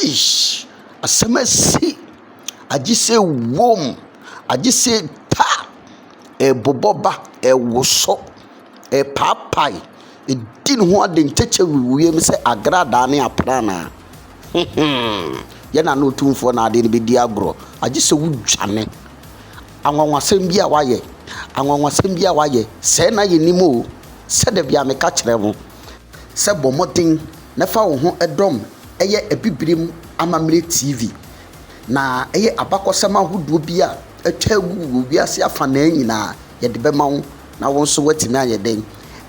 Eish! Asɛm asi! Agye sɛ wuom, agye sɛ ta! Ɛrebobɔ ba, ɛrewoso, ɛrepaapae, ɛredi ne ho ade ntɛkyɛ wɔ wiem sɛ agradaa ne aprannaa. Huhuu! Yɛn Nana Otumfoɔ na ade no bɛdi agorɔ. Agye sɛ wudwane. Anwanwasɛm bi a wayɛ, anwanwasɛm bi a wayɛ, sɛɛ na yɛnim o, sɛ da biara meka kyerɛ wo sɛ bɔ mmɔden na fa wo ho dɔm ɛyɛ Abibirim Amammerɛ TV, na ɛyɛ abakɔsɛm ahodoɔ bi a atwa agu wɔ wiase afanaa nyinaa yɛde bɛma wo na wo nso woatumi ayɛ dɛn?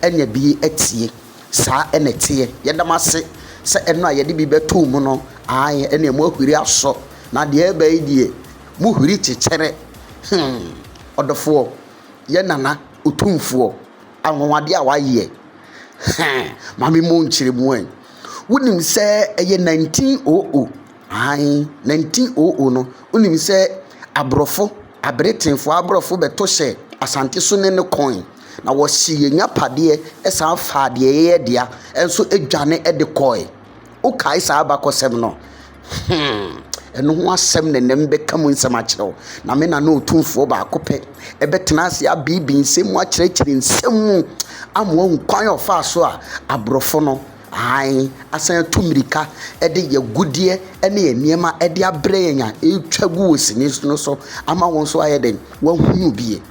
anya bi atie. Saa na ɛteɛ. Yɛda mo ase sɛ ɛno a yɛde bi bɛtoo mu no, ae, ɛnna moahuri asɔ, na deɛ ɛreba yi deɛ, Mo huri kyekyɛre. Hmm. Ɔdɔfoɔ, yɛn Nana Otumfoɔ, anwanwadeɛ a wayɛ. Hɛn. Ma me mmɔ nkyerɛmu ɛ. Wonim sɛ ɛyɛ 1900, aane, 1900 no, wonim sɛ aborɔfo, aberetenfoɔ aborɔfo bɛto hyɛ Asante so ne ne kɔn, na wɔhyee yɛn agyapadeɛ san faa deɛ yɛyɛ dea nso dwane de kɔe. Wokae saa abakɔsɛm no? Hmm, ɛno ho asɛm na ɛnnɛ mebɛka mu nsɛm akyerɛ wo. Na me na ne ɔtumfoɔ baako pɛ ɛbɛtena ase abeebi nsɛm mu akyerɛkyerɛ nsɛm mu ama wahu kwan a ɔfaa so a aborɔfo no hann asan atu mmirika de yɛ agudeɛ ne nneɛma de abrɛ yɛn a ɛretwa gu wɔ sini no so ama wɔn nso ayɛ dɛn wɔahunu bie.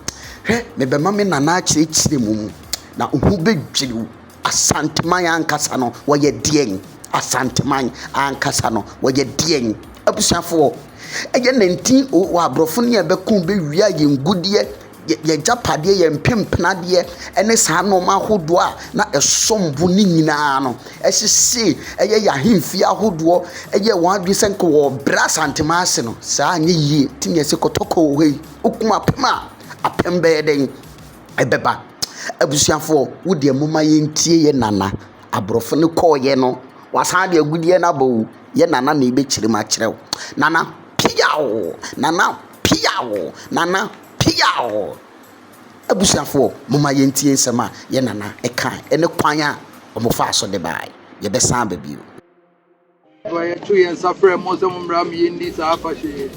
Hwɛ, mebɛma me nana akyerɛkyerɛ mu mu na ho bɛdwiriw. Asanteman ankasa no wɔyɛ deɛn? Asanteman ankasa no wɔyɛ deɛn? Abusuafoɔ, ɛyɛ 19 o o aborɔfo ne ɛbɛko bɛwia yɛn ngudeɛ, yɛn agyapadeɛ, yɛn mpempenadeɛ ɛne saa nneɛma ahodoɔ a na ɛsom bo ne nyinaa no ɛhyehye ɛyɛ yɛn ahemfie ahodoɔ ɛyɛ wɔn adwene sɛ nka wɔbrɛ asanteman ase no saa anyɛ yie ti ne ɛsɛ kɔtɔkɔ wɔ hɔ yi wokum apem a apem bɛyɛ dɛn ɛbɛba. Abusuafoɔ, wo deɛ momma yɛntie yɛn nana. Aborɔfo no kɔeɛ no, wɔasane de agudeɛ no aba o. Yɛn nana na ɛbɛkyerɛ mu akyerɛ wo. Nana, piaw! Nana, piaw! Nana, piaw! Abusuafoɔ, momma yɛntie nsɛm a yɛn nana kaeɛ ne kwan a wɔfaa so de baeɛ. Yɛbɛsan aba bio. Fa yɛto yɛn nsa frɛ mo sɛ mommra ma yɛnni saa afahyɛ yi.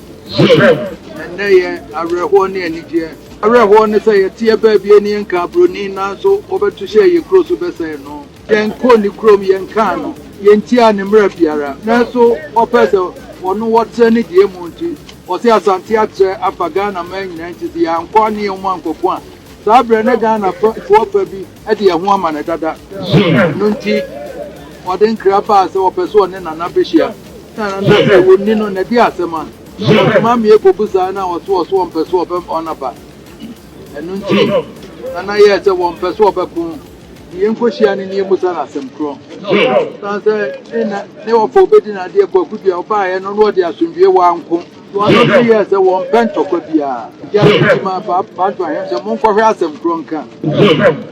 Ɛnnɛ yɛ awerɛhoɔ ne anigyeɛ. Awerɛhoɔ ne sɛ yɛteɛ baabi ani nkaa buroni nanso wɔbɛto hyɛɛ yɛn kuro so bɛsɛe no. Yɛnkɔɔ ne kurom, yɛnkaa no, yɛntiaa ne mmara biara nanso ɔpɛɛ sɛ ɔno wɔtrɛ ne deɛ mu nti ɔse Asante atrɛ afa Ghana man nyinaa nti sɛ yɛankɔ ne yɛn mu ankɔko a saa berɛ na Ghana foɔ fa bi de ɛho ama no dada. Ɛno nti, ɔde nkra baa sɛ ɔpɛ sɛ ɔne Nana bɛhyia. Na Nana sɛ wɔnni no, na ɛde asɛm a. Ɔsoma mmea kɔbisaa no a ɔso ɔso ɔmpɛ sɛ ɔbɛma wɔn aba. Ɛno nti, Nana yɛɛ sɛ wɔmpɛ sɛ ɔbɛko. Ne yɛnkɔhyia no ne yɛmmusa no asɛm korɔ. Ɛsiane sɛ ne na ne ɔfa ɔbɛdi no adeɛ kwaku dua ɔbaeɛ no na ɔde asomdwoeɛ wɔ anko. Wɔn yɛɛ sɛ wɔmpɛ ntɔkwa biara. Gya no nti maa Paapantu Ahem sɛ monkɔhwɛ asɛm korɔ nka.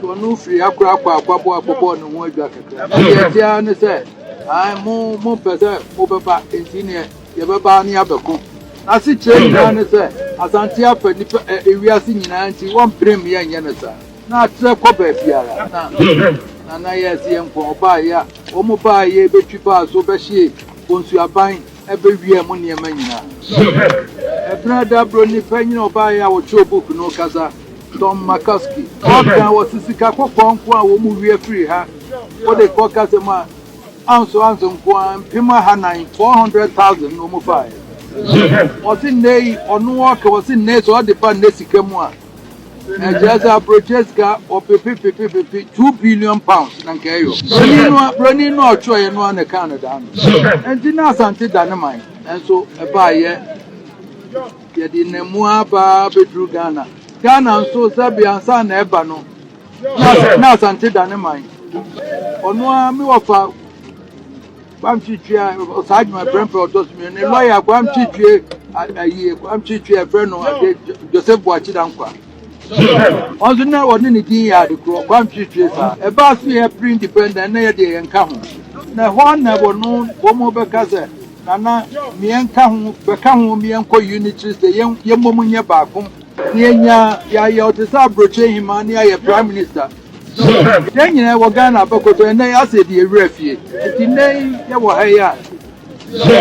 Wɔn firii akora kɔɔ Akwaboa kɔbɔɔ ne ho adwa kakra. Na deɛ ɛte ara ne sɛ, ae, mo, mompɛ sɛ mobɛba, enti neɛ yɛbɛba ara ne yɛabɛko. N'asekyerɛ nyinaa ne sɛ, Asante afa nnipa, ɛ, ewiase nyinaa nti wɔmpere me yɛnyɛ no saa. Na atrɛ kɔ baabiara. Na, na, na yɛɛ sɛ yɛnkɔ. Ɔbaa, ya, wɔn baa, yɛrebɛtwi baa so bɛhyee Bonsu aban. Ɛbɛwia mo nneɛma nyinaa. Ɛberɛ a da Buroni panyin a ɔbaeɛ a ɔkyerɛw book no rekasa, Tom McCoskey, ɔkaa wɔ se sika kɔkɔɔ nko a wɔn wia firi ha kɔde kɔ Gaza mu a ounce ounce nko ara mpem ahanan, 400,000, na wɔn faaɛ. Ɔse nnɛyi, ɔno ɔɔka, ɔse nnɛyi sɛ ɔde ba nnɛ sika mu a, Ɛkyerɛ sɛ aburokyire sika ɔpepepepepepe two billion pounds na nka ɛyɔ. Broni no broni no ɔtwerɛeɛ no na ɛkaa no daa no. Nti na Asante da ne man nso ɛbaayɛ yɛde nam mu abaa bɛduru Ghana. Ghana nso sɛbi ansa na ɛba no na Asante da ne man. Ɔno a me wɔfa Kwamtwi Twi a ɔsaa adwuma prɛmprɛ ɔtɔ so mmienu ne lɔya Kwamtwi Twi ayi Kwamtwi Twi a ɛfrɛ no ade Joseph Boakye Dankwa wɔn nso na wɔne ne din yɛ ade korɔ Kwamtwi Twi saa ɛbaa so yɛ pre independent na yɛ deɛ yɛn ka ho na ɛhɔ na wɔn wɔn bɛka sɛ nana mmiɛn ka ho bɛka ho mmiɛn kɔ unitary sɛ yɛn yɛn mmom nyɛ baako ne yɛn nya yɛayɛ ɔte sɛ aburokye hema ne yɛayɛ prime minister. Yɛ. Yɛn nyinaa yɛwɔ Ghana abɛkoto ɛnɛ yɛ asɛ di ewura fie nti nnɛ yi yɛwɔ ha yi a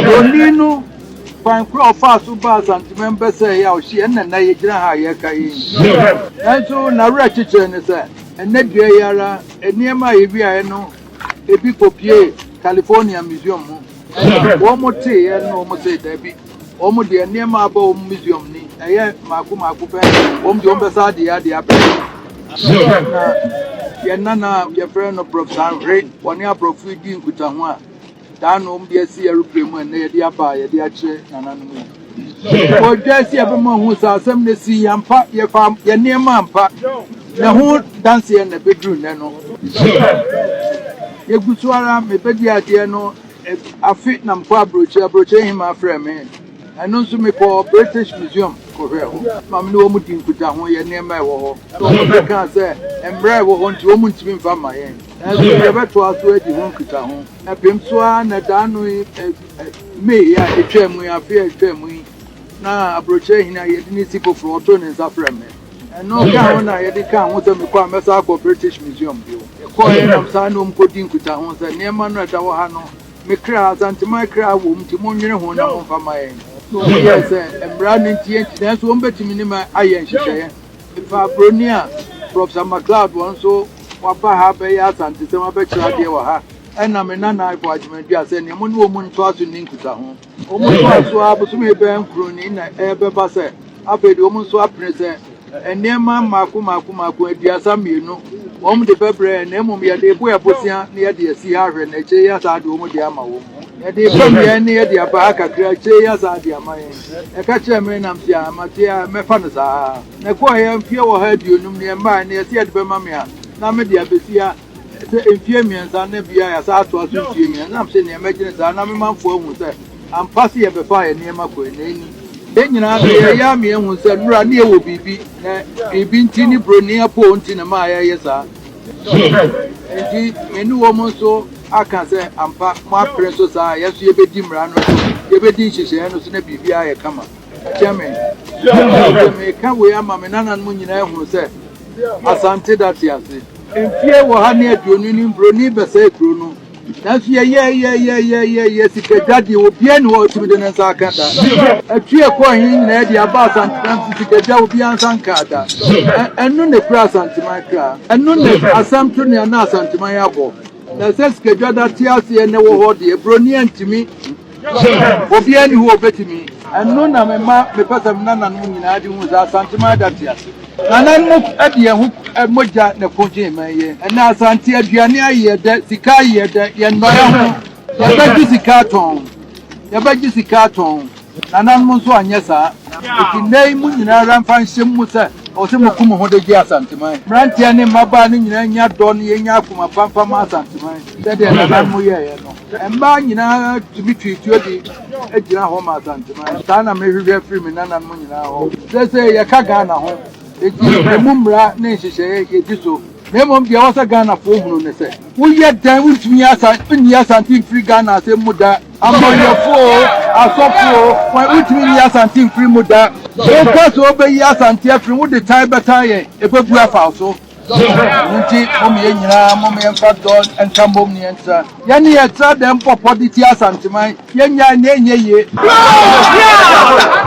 broni no kwan koro a ɔfaa so baa Asantemam bɛsɛe yɛ a ɔhye yɛ ɛnna nnɛ yɛgyina ha a yɛreka yɛ yi nanso n'awerɛ kyekyerɛ ne sɛ ɛnɛ dua yi ara nneɛma a yɛwiaeɛ no ebi kɔpie California Museum mu ɛna wɔn mo teeɛ no wɔn sɛ daabi Wɔn deɛ nneɛma a aba wɔn museum ni ɛyɛ mako mako pɛ wɔn deɛ wɔn bɛ saa deɛ adeɛ abɛ na yɛn nana a yɛfrɛ no brɔf sanhwere wɔne aborɔfo yi di nkutaho a daa na wɔn deɛ si aeroplane mu ɛnɛ yɛde aba a yɛde akyerɛ nananom yi wɔdwa si ɛbɛma ho sɛ asɛm na si yɛn mpa yɛfa yɛn nneɛma mpa na ho danseɛ na ɛbɛduru nnɛ no yɛgu so ara mebɛdi adeɛ no Afe na mekɔ abrokyi, abrokyi hemaa frɛɛ me, ɛno nso mekɔɔ British Museum kɔhwɛɛ hɔ ma me ne wɔn dii nkutaho yɛ nneɛma a ɛwɔ hɔ na wɔn nso kaa sɛ mmara a ɛwɔ hɔ nti wɔn ntumi mfa mma yɛn nanso yɛbɛtoa so adi ho nkutaho. Ɛpem so ara na da ano yi May a ɛtwaa mu yi, afe a ɛtwaa mu yi, na abrokyi hene a yɛde no si foforɔ ɔtoo ne nsa frɛɛ me. Ɛno ka ho na yɛde kaa ho sɛ mekɔ a mɛsan akɔ British Museum bio. Mekɔeɛ nam saa na wɔn kɔdi nkutaho sɛ nneɛma no a ɛda hɔ ha no me kra, Asanteman kra wɔ mu nti monnwene ho na momfa mma yɛn. Na wɔn yɛɛ sɛ mmara no nti yɛnti nanso wɔn bɛtumi ne me ayɛ nhyehyɛeɛ. Mefaa buroni a Professor McLeod wɔn nso waba ha abɛyɛ Asantesɛm abɛkyerɛ adeɛ wɔ ha ɛna me nana Ivo Agyeman Duah sɛ nea mo ne wɔn ntoa so nni nkutaho. Wɔtoaa so ara bosome bɛyɛ nkron ni na ɛrebɛba sɛ afei de wɔn nso apene sɛ nneɛma mmaako mmaako mmaako aduasa mmienu wɔn de bɛbrɛ yɛn na mmom yɛde ebo yɛ bosea na yɛde asi ha ahwɛ na akyire yi asa ade wɔn de ama wɔn. Yɛde fam yɛn ne yɛde aba ha kakra akyire yi asa ade ama yɛn. Ɛka kyerɛɛ me nam te a mate a mɛfa no saa ara. Na ɛkɔeɛ mfeɛ ɔha aduonum na yɛmmaeɛ na yɛse yɛde bɛma me a na mede abɛsi ha. Ɛsɛ mfie mmiɛnsa na bia yɛasan atoa so mfie mmiɛnsa. Ɛnam sɛ nea mɛgyene saa na me manfo ahu sɛ ampa se yɛbɛfaa yɛn nneɛma kɔe na ɛnni yɛn nyinaa so. Ɛyɛ a meɛhu sɛ nnora ne yɛwɔ biribi na biribi nti ne broni apoo nti na ɛmaa yɛyɛ saa. Enti me ne wɔn nso aka sɛ ampa mo apere so saa a yɛn nso yɛbɛdi mmara no so, yɛbɛdi nhyehyɛeɛ no so na biribiara ayɛ kama. Ɛkyɛn me. Sɛ meka wei ama me nananom nyinaa ahunu sɛ Asante date ase. Mfie wɔ ha ne aduonu ni mbroni bɛsɛe kuro no nanso yɛyɛɛyɛɛyɛɛyɛɛyɛ sika dwa deɛ obiara ni hɔ ɔtumi de ne nsa aka da atwi ɛkɔɔ he nyinaa de aba asantenam si sika dwa obiara nsa nkaa da ɛno na ɛkura asanteman kra ɛno na asɛm to nea na asanteman abɔ na sɛ sika dwa da te aseɛ na ɛwɔ hɔ deɛ broni antumi Obiara nni hɔ a obetumi. Ɛno na mema mepɛ sɛ me nananom nyinaa de hu sɛ Asanteman ada te ase. Nananom de yɛn ho mogya na ɛkogyee man yi. Ɛnnɛ Asante aduane ayɛ dɛ, sika ayɛ dɛ, yɛnnɔyɛ ho. Yɛbɛgye sika atɔn. Yɛbɛgye sika atɔn. Nananom nso anyɛ saa. Enti nnɛ yi mo nyinaa ara mfa nhyɛ mo mu sɛ ɛwɔ sɛ moku mo ho de gye Asanteman. Mmeranteɛ ne mmabaa no nyinaa nnya dɔ na yɛnnya akoma pa mfa mma Asanteman sɛdeɛ nananom yɛeɛ no. Mmaa nyinaa tumi twe tuo de gyina hɔ ma Asanteman. Saa na mehwehwɛ firi me nananom nyinaa hɔ. Seesei yɛka Ghana ho, enti ɛmu mmara ne nhyehyɛeɛ yɛdi so. Na mmom deɛ ɛwɔ sɛ Ghanafoɔ hunu ne sɛ, woyɛ dɛn wontumi nni Asante mfiri Ghana asɛm mu da. Amanyɔfoɔ oo, asɔfoɔ oo, wɔn, wontumi nyi Asante mfiri mu da. Wokɔ so bɛyi Asante afiri mu, wode tan bɛtan yɛn, ɛbɛbu afa wo so. Nti mom yɛn nyinaa mom yɛmfa dɔ nka mbom ne yɛntra. Yɛne yɛtra dɛm pɔpɔ de tia Asanteman. Yɛnyae na ɛnyɛ yie.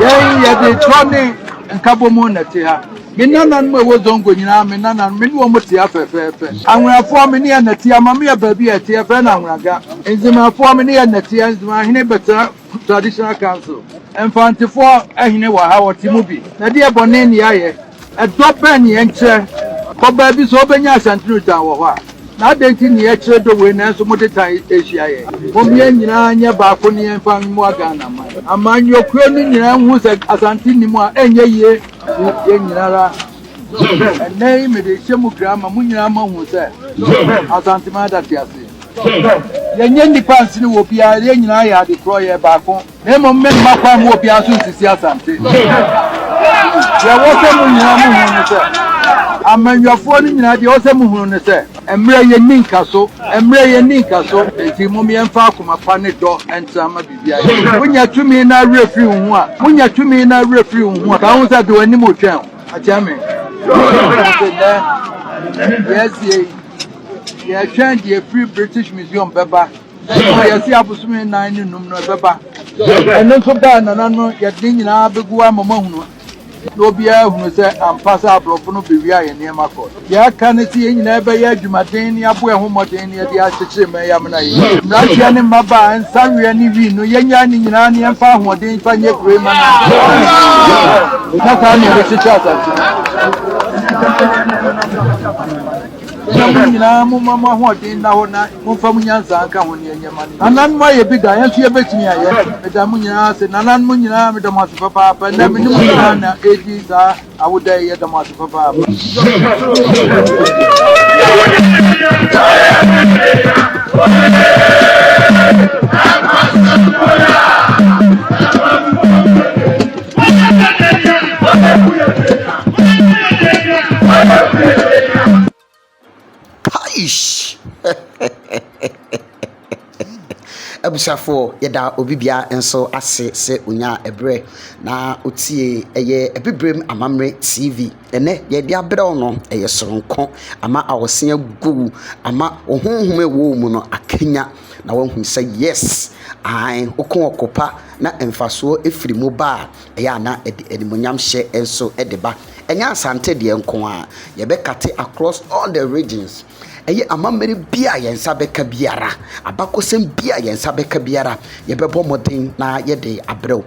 Yɛn yɛde dɔ ne nkabɔmu na ɛte ha. Me nananom a ɛwɔ Zongo nyinaa, me nananom, me ne wɔn te ha fɛfɛɛfɛ. Anweafoɔ, me ne yɛn na ɛte ha. Mame yɛ baabi a ɛte, yɛfrɛ no Anweaga. Nzemafoɔ, me ne yɛn na ɛte ha. Nzema hene bɛtena Traditional Council. Mfantefoɔ, hene wɔ ha, ɔte mu bi. Na ɛdeɛ bɔne ne yɛayɛ? Dɔ bɛn na yɛnkyerɛ? Kɔ baabi sɛ wobɛnya Asantino tan wɔ hɔ a, na adɛn nti na yɛkyerɛ dɔ wei nanso mode tan hyia yɛn? Mom yɛn nyinaa nyɛ baako na yɛmfa mmoa Ghana man. Amanyɔkuo no nyinaa nhu sɛ Asante nnim a, ɛnyɛ yie. Yɛn nyinaa ara. Ɛnnɛ yi mede rehyɛ mo kura ama mo nyinaa moahu sɛ Asanteman da te ase. Yɛnyɛ nnipa nsene wɔ obiara, yɛn nyinaa yɛ adekorɔ, yɛyɛ baako. Na mmom meremma kwan mma obiara nso nsisi asante. Deɛ ɛwɔ sɛ mo nyinaa mohunu ne sɛ, amanyɔfoɔ no nyinaa, deɛ ɛwɔ sɛ mohunu ne sɛ, mmerɛ yi nni nkaso, mmerɛ yi nni nkaso, enti mom yɛmfa akoma pa ne dɔ ntra mma biribiara nyɛ yɛn. Wonya tumi na awerɛ firi wo ho a, wonya tumi na awerɛ firi wo ho a, ka ho sɛ, de w'anim retwɛn o, akyɛ me. Enti nnɛ, deɛ asie yi, yɛretwɛn deɛ ɛfiri British Museum bɛba, Ɛno na yɛte abosome nnan ne num no ɛbɛba. Ɛno nso baa a nana no yɛde ne nyinaa bɛgu hɔ ama moahunu na obiara ahunu sɛ ampa sɛ aborɔfo no bɛwia yɛn nneɛma kɔ. Deɛ aka ne sɛ yɛn nyinaa bɛyɛ adwumaden na yɛabɔ yɛn ho mmɔden na yɛde akyekyere mma yi amena yi. Mmeranteɛ ne mmabaa, nsaweɛ ne wii no, yɛnnyae ne nyinaa na yɛmfa ahoɔden mfa nyɛ kuro yi mma no ansa na saa na yɛbɛkyekyere asase no. Na mo nyinaa momma mo ahoɔden nna hɔ na momfa mo nyansa nka ho nea ɛnyɛ ma no yiye. Nananom ayɛ bi da, yɛn nso yebetumi ayɛ. Meda mo nyinaa ase. Nananom nyinaa, meda mo ase papaapa. Nnɛ, me ne mo nyinaa na edi saa awoda yi. Yɛda mo ase papaapa. Abusuafoɔ yɛda obi biara nso ase sɛ ɔnyaa ɛberɛ na ɔtiee ɛyɛ Abibirem Amammerɛ TV. Ɛnnɛ deɛ yɛde abrɛ wo no ɛyɛ sononko, ama awɔse agu wo, ama wo honhom a ɛwɔ wo mu no akanya. na wahu sɛ yes ae woko ɔko pa na mfasoɔ firi mu ba a ɛyɛ a na ɛde animonyam hyɛ nso de ba ɛnyɛ asante deɛ nko a yɛbɛkate across all the regions ɛyɛ amammerɛ bi a yɛn nsa bɛka biara abakɔsɛm bi a yɛn nsa bɛka biara yɛbɛbɔ mmɔden na yɛde abrɛw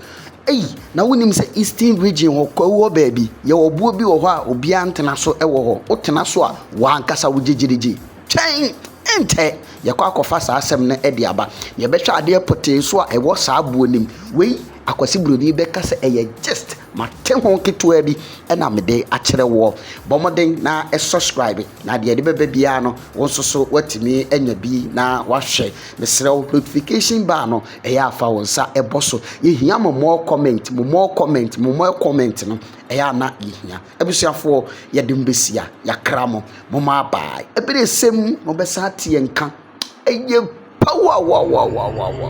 ei na wonim sɛ eastern region hɔ kwawu hɔ baabi yɛwɔ boɔ bi wɔ hɔ a obiara ntena so wɔ hɔ wotena so a wɔankasa wo gyegyerigye Twɛn, ɛnkyɛ yɛkɔ akɔfa saa asɛm no de aba. Nea ɛbɛhwɛ adeɛ pɔtee nso a ɛwɔ saa boɔ no mu. Wei, Akwasi Buroni bɛka sɛ ɛyɛ gist, mate ho ketewa bi na mede akyerɛ woɔ. Bɔ mmɔden na subscribe, na deɛ yɛde bɛba biara no, wo nso so woatumi anya bi na woahwɛ. Mesrɛ wo, notification bell no, ɛyɛ a fa wo nsa bɔ so. Yɛhia mo more comment, mo more comment, mo more comment no, ɛyɛ a na yɛhia. Abusuafoɔ yɛde mo bɛsia yɛakra mo mo mo abae ɛbɛrɛ sɛ mu mo bɛsan ate yɛn nka ɛyɛ powerwawawawawa.